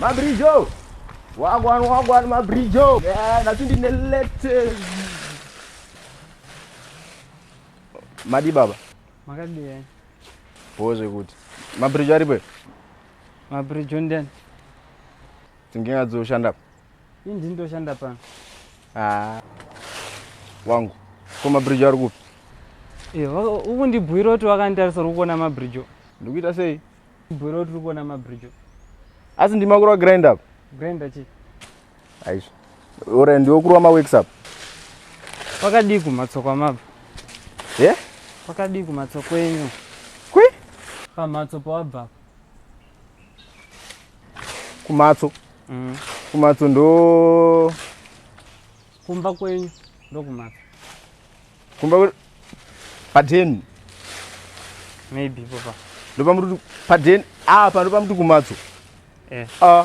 Mabrijo. Wagwan wagwan Mabrijo. Yeah, nothing in the latest. Madi baba. makadii bho zvekuti mabridge aripo here mabridge ondiani dzingenga dzoshanda pa ii ndini ndoshanda pano haa wangu ko mabridge ari kupi Eh, wa- ukundibhuira kuti wakanditarisa uri kuona mabridge o. ndikuita sei Bro tiri kuona mabridge. Asi ndima kurwa grind up. Grind chi? Aisha. Ora ndiwo kurwa ma wakes up. Pakadii kumatsoko amabva? Ye? Yeah? Pakadii kumatsoko enyu? Kwi? Pamatso pawabva. Kumatso. Mm. Kumatso ndo Kumba kwenyu ndokumapi? Kumba kwenyu padeni. Maybe papa. Ndopa muti padeni apa ndopa muti kumatso. Eh. Ah.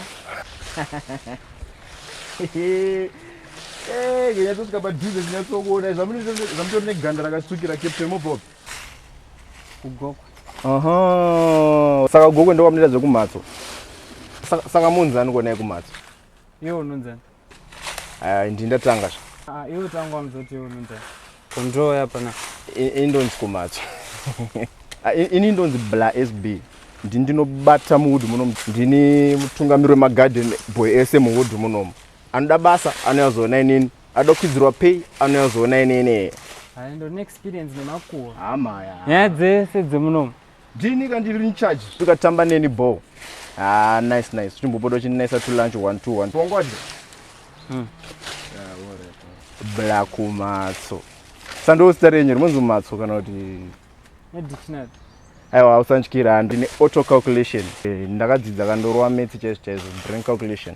Eh, kenya tosvika padhuze zinyatsokuona zvamutori neganda rakatsvukira captain mobob kugokwe aha saka gokwe ndokwamunoita zvekumhatso saka munzani kuonai kumhatso iwe unonzani Ah, ndi ndatanga zva Ah, iwe tangu wamzoti iwe unonzi control yapana I- ini ndonzi komatso Ah, i- ini ndonzi bla sb ndi ndinobata muwood munomu ndini mutungamiri wemagarden boy ese muwood munomu anoda basa anoyazoona inini anoda kukwidzirwa pay anoyazoona inini hayi ndone experience nemakuwa hamaya nyaya dzese dzemunomu ndini ka ndiri incharge ukatamba neni bo ah nice nice chimbopoda uchinesa to lunch one two one wangwadi mm. black matso sandiwo zita renyu rinonzi matso kana kuti nedictionary aiwa hausandyira ndine auto calculation eh, ndakadzidza kandorwa metsi chaizvo chaizvo brain calculation